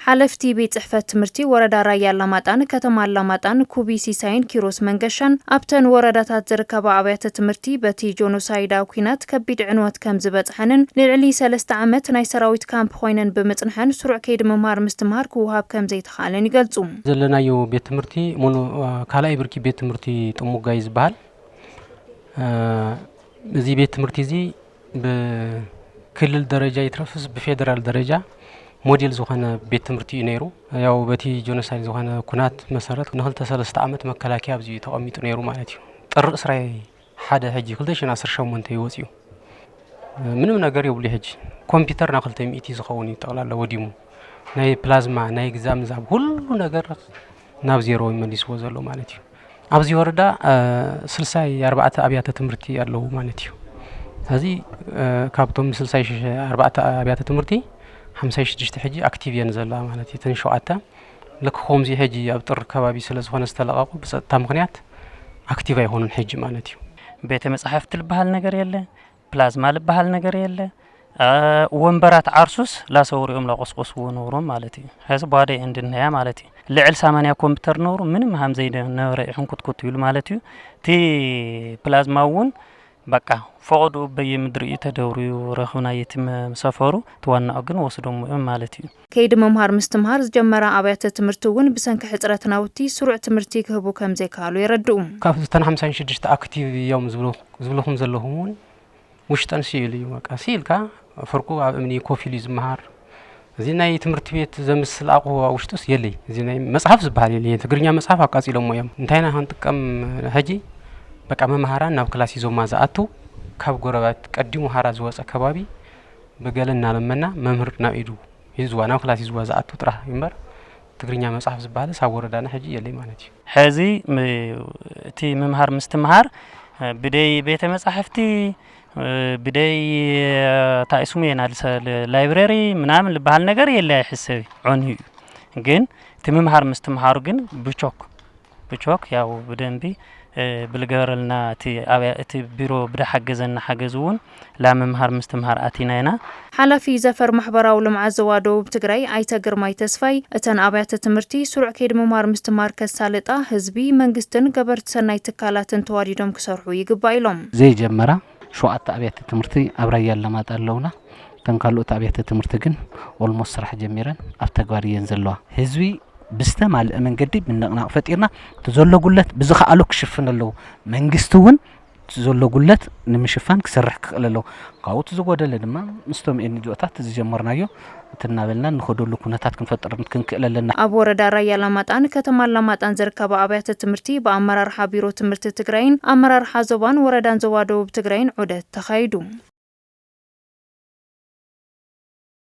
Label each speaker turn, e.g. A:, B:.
A: ሓለፍቲ ቤት ፅሕፈት ትምህርቲ ወረዳ ራያ ኣላማጣን ከተማ ኣላማጣን ኩቢ ሲሳይን ኪሮስ መንገሻን ኣብተን ወረዳታት ዝርከባ ኣብያተ ትምህርቲ በቲ ጆኖሳይዳ ኩናት ከቢድ ዕንወት ከምዝበፅሐንን ንልዕሊ ሰለስተ ዓመት ናይ ሰራዊት ካምፕ ኮይነን ብምፅንሐን ስሩዕ ከይዲ ምምሃር ምስትምሃር ክወሃብ ከምዘይተኽኣለን ይገልፁ። ዘለናዮ ቤት
B: ትምህርቲ ሞኖ ካልኣይ ብርኪ ቤት ትምህርቲ ጥሙጋ እዩ ዝበሃል። እዚ ቤት ትምህርቲ እዚ ብክልል ደረጃ ይትረፍ ብፌደራል ደረጃ ሞዴል ዝኾነ ቤት ትምህርቲ እዩ ነይሩ ያው በቲ ጆኖሳይድ ዝኾነ ኩናት መሰረት ንክልተ ሰለስተ ዓመት መከላከያ ኣብዚ እዩ ተቐሚጡ ነይሩ ማለት እዩ ጥሪ እስራይ ሓደ ሕጂ ክልተ ሽን ዓሰርተ ሸሞንተ እዩ ወፂኡ ምንም ነገር የብሉ ሕጂ ኮምፒውተር ናብ ክልተ ሚእቲ ዝኸውን እዩ ጠቕላላ ወዲሙ ናይ ፕላዝማ ናይ ግዛምዛም ሁሉ ነገር ናብ ዜሮ መሊስዎ ዘሎ ማለት እዩ። ኣብዚ ወረዳ ስልሳይ ኣርባዕተ ኣብያተ ትምህርቲ ኣለዉ ማለት እዩ። እዚ ካብቶም ስልሳይ ኣርባዕተ ኣብያተ ትምህርቲ ሓምሳይ ሽዱሽተ ሕጂ ኣክቲቭ እየን ዘለዋ ማለት እዩ። እተን ሸውዓተ ልክ ከምዚ ሕጂ ኣብ ጥሪ ከባቢ ስለ ዝኾነ ዝተለቐቑ ብፀጥታ ምኽንያት ኣክቲቭ ኣይኮኑን ሕጂ ማለት እዩ። ቤተ መፃሕፍቲ
C: ልበሃል ነገር የለ። ፕላዝማ ልበሃል ነገር የለ ወንበራት ዓርሱስ ላሰውርኦም ላቆስቆስዎ ነብሮም ማለት እዩ ሕዚ ቧደ እንድነያ ማለት እዩ ልዕል ሳማንያ ኮምፒተር ነብሩ ምንም ሃም ዘይነበረ እዩ ሕንኩትኩት ይብሉ ማለት እዩ እቲ ፕላዝማ እውን በቃ ፈቐድኡ በየምድሪ እዩ ተደብርዩ ረኽብና የቲ ሰፈሩ ትዋናኦ ግን ወስዶም እዮም ማለት እዩ ከይዲ ምምሃር ምስትምሃር
A: ዝጀመራ ኣብያተ ትምህርቲ እውን ብሰንኪ ሕፅረት ናውቲ ስሩዕ ትምህርቲ ክህቡ ከምዘይከኣሉ የረድኡ። ካብ እተን ሓምሳን
B: ሽዱሽተ ኣክቲቭ እዮም ዝብልኹም ዘለኹም እውን ውሽጠን ስኢሉ እዩ። በቃ ስኢልካ ፍርቁ ኣብ እምኒ ኮፍ ኢሉ እዩ ዝመሃር። እዚ ናይ ትምህርቲ ቤት ዘምስል ኣቑሑ ኣብ ውሽጡስ የለይ። እዚ ናይ መፅሓፍ ዝበሃል የለይ። ትግርኛ መፅሓፍ ኣቃፂሎሞ እዮም። እንታይ ኢና ክንጥቀም ሕጂ? በቃ መምሃራን ናብ ክላስ ሂዞማ ዝኣትው ካብ ጎረባት ቀዲሙ ሓራ ዝወፀ ከባቢ ብገለ እናለመና መምህር ናብ ኢዱ ሂዝዋ ናብ ክላስ ሂዝዋ ዝኣቱ ጥራሕ እዩ እምበር ትግርኛ መፅሓፍ ዝበሃልስ ኣብ ወረዳና ሕጂ የለይ ማለት እዩ። ሕዚ
C: እቲ ምምሃር ምስትምሃር ብደይ ቤተ መጻሕፍቲ ብደይ እንታይ ስሙ የናልሰ ላይብረሪ ምናምን ዝበሃል ነገር የለ ኣይሕሰብ ዖንዩ እዩ ግን እቲ ምምሃር ምስትምሃሩ ግን ብቾክ እቾክ ያው ብደንቢ ብልገበረልና እቲ ኣብያ እቲ ቢሮ ብደሓገዘና ሓገዝ እውን ላምምሃር ምስትምሃር ኣቲና ኢና። ሓላፊ ዘፈር
A: ማሕበራዊ ልምዓት ዞባ ደቡብ ትግራይ ኣይተ ግርማይ ተስፋይ፣ እተን ኣብያተ ትምህርቲ ስሩዕ ከይዲ ምምሃር ምስትምሃር ከሳልጣ ህዝቢ፣ መንግስትን ገበርቲ ሰናይ ትካላትን ተዋዲዶም ክሰርሑ ይግባእ ኢሎም። ዘይጀመራ
D: ሸውዓተ ኣብያተ ትምህርቲ ኣብ ራያ ኣላማጣ ኣለውና እተን ካልኦት ኣብያተ ትምህርቲ ግን ኦልሞስት ስራሕ ጀሚረን ኣብ ተግባር እየን ዘለዋ ህዝቢ ብዝተማልእ መንገዲ ምንቕናቕ ፈጢርና እቲ ዘሎ ጉለት ብዝኸኣሎ ክሽፍን ኣለዎ መንግስቲ እውን እቲ ዘሎ ጉለት ንምሽፋን ክሰርሕ ክኽእል ኣለዎ ካብኡ እቲ ዝጎደለ ድማ ምስቶም ኤንጅኦታት ዝጀመርናዮ እቲ እናበልና እንኸደሉ ኩነታት ክንፈጥርን ክንክእል ኣለና። ኣብ ወረዳ ራያ
A: ኣላማጣን ከተማ ኣላማጣን ዝርከባ ኣብያተ ትምህርቲ ብኣመራርሓ ቢሮ ትምህርቲ ትግራይን ኣመራርሓ ዞባን ወረዳን ዞባ ደቡብ ትግራይን ዑደት ተኻይዱ።